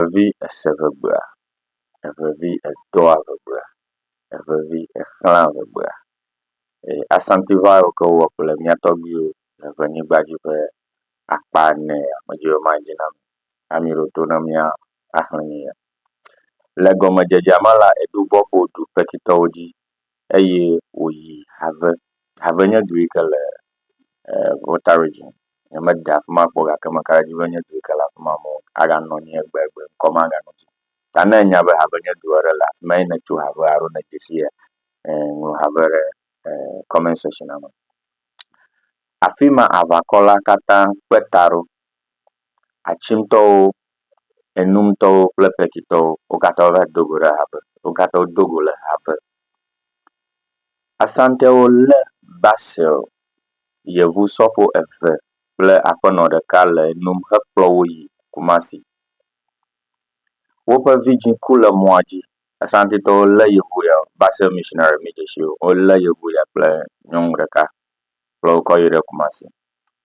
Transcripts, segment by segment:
Evevi ese ŋegbea. Evevi edɔa ŋegbea. Evevi exlãa ŋegbea. Eye Asantiʋa yiwo ke wowɔ kple mía tɔgbuiwo le ŋenyigba dzi ƒe akpa ene ya medze be madze na mi. Ame yi ɖo to na mía axlẽ nu ya. Le gɔmedzedzea me la, eɖo bɔƒo du Pekitɔwo dzi eye wòyi Have. Have nye du yi ke le Volta Region. Nyemede afi ma kpɔ o gake meka ɖe edzi be nye du yi ke le afi ma amewo aganɔ anyi egbegbe, ŋkɔ maganɔ dzi o. Ta ne ènya be Have nye du aɖe le afi ma ye nètso Have alo nèdze sii, ŋlɔ Have ɖe comment sectiona me. Afi ma aʋakɔla katã kpe ta ɖo. Atsintɔwo, Enumtɔwo kple Kpetsitɔwo wo katã wova do go ɖe ha me. Wo katã wodo go le ha me. Asantɛwo le basel yevu sɔfo eve kple aƒenɔ ɖeka le enom hekplɔ wo yi Kumasi. Woƒe vidzĩ ku le mɔa dzi. Asantitɔwo le yevu ya basel mishinari mi dzi si wo le yevu ya kple nyɔnu ɖeka kplɔ wo kɔ yi ɖe Kumasi.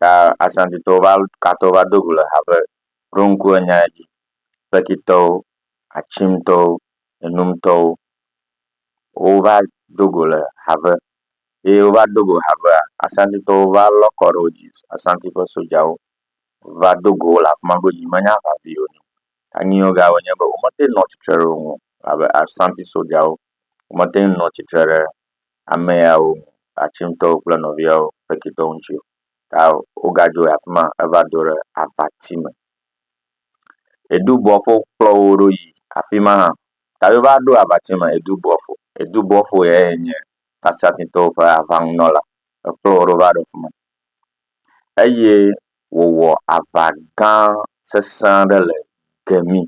ta Asantitɔwo va katã va do go le ha be, Ɖo ŋku enya dzi, Kpetitɔwo, Atsimtɔwo, Enumtɔwo. Wova do go le ha ve. Eye wova do go ha vea, Asantitɔwo va lɔ kɔ ɖe wo dzi. Asanti ƒe sojawo va do go wo le afi ma ɖo dzi menye aʋavi o. Ta nu yiwo ga wonye be womete ŋu nɔ tsitre ɖe wo ŋu o. Elabe Asanti sojawo womete ŋu nɔ tsitre ɖe ame yawo, Atsintɔwo kple nɔviawo, Fekitɔ ŋutsu, ta wogadzo yi afi ma heva do ɖe avati me. Edu bɔfo kplɔ wo ɖo yi afi ma hã. Ta wova ɖo avati me edu bɔfo. Edu bɔfo yae nye Asatitɔwo ƒe aʋanunɔla. Ekplɔ wo ɖo va ɖo afi ma. Eye wòwɔ aʋa gã sesẽ aɖe le kemi.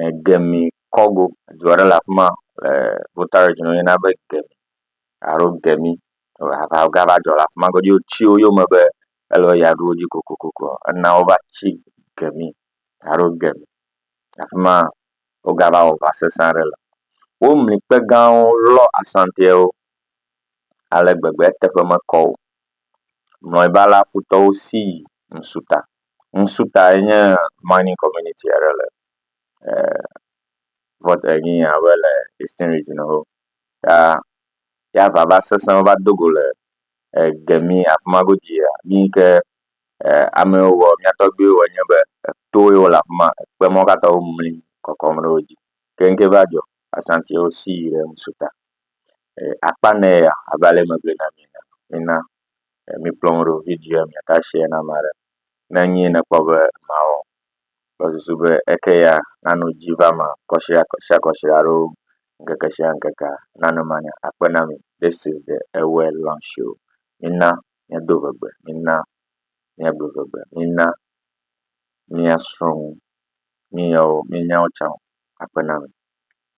e Gemi kɔgo du aɖe le afi ma le Volta Region woyɔna be Gemi alo Gemi aʋagã va dzɔ le afi ma godzi wotsi wo yome be ele be yeaɖu wo dzi kokoko ena wova tsi Gemi alo Gemi. Afi ma wogava wɔ aʋa sesẽ aɖe le. Womli kpe gãwo lɔ Asantiwo ale gbegbe eteƒe mekɔ o. Mlɔeba la futɔwo si yi ŋsuta. Ŋsu tae nye mining community aɖe le vɔt enyi abe le Eastern Region ho ta ya va va sesẽ va do go le gemi afi ma godzi ya nu yi ke amewo wɔ mía tɔgbuiwo wɔ nye be eto ye wole afi ma ekpe ma wo katã womli kɔkɔm ɖe wo dzi. Keŋke va dzɔ Asantiwo si yi ɖe ŋsu ta. Akpa nɛ ya abe ale megblɔe na mi ene. Mina mikplɔ nu ɖo video ya miata share na ame aɖe. Ne enye ye nèkpɔ be mawɔ kple susu be eke ya nano dzi va eme kɔshia kɔshia kɔshia alo ŋkeke shia ŋkekea nano ema nya akpe na mi. This is the Ewɛ Launch Show. Mina míado vegbe, mina míagblɔ vegbe, mina míasrɔ̃ nu míawo mínyawo tsã akpe na mi.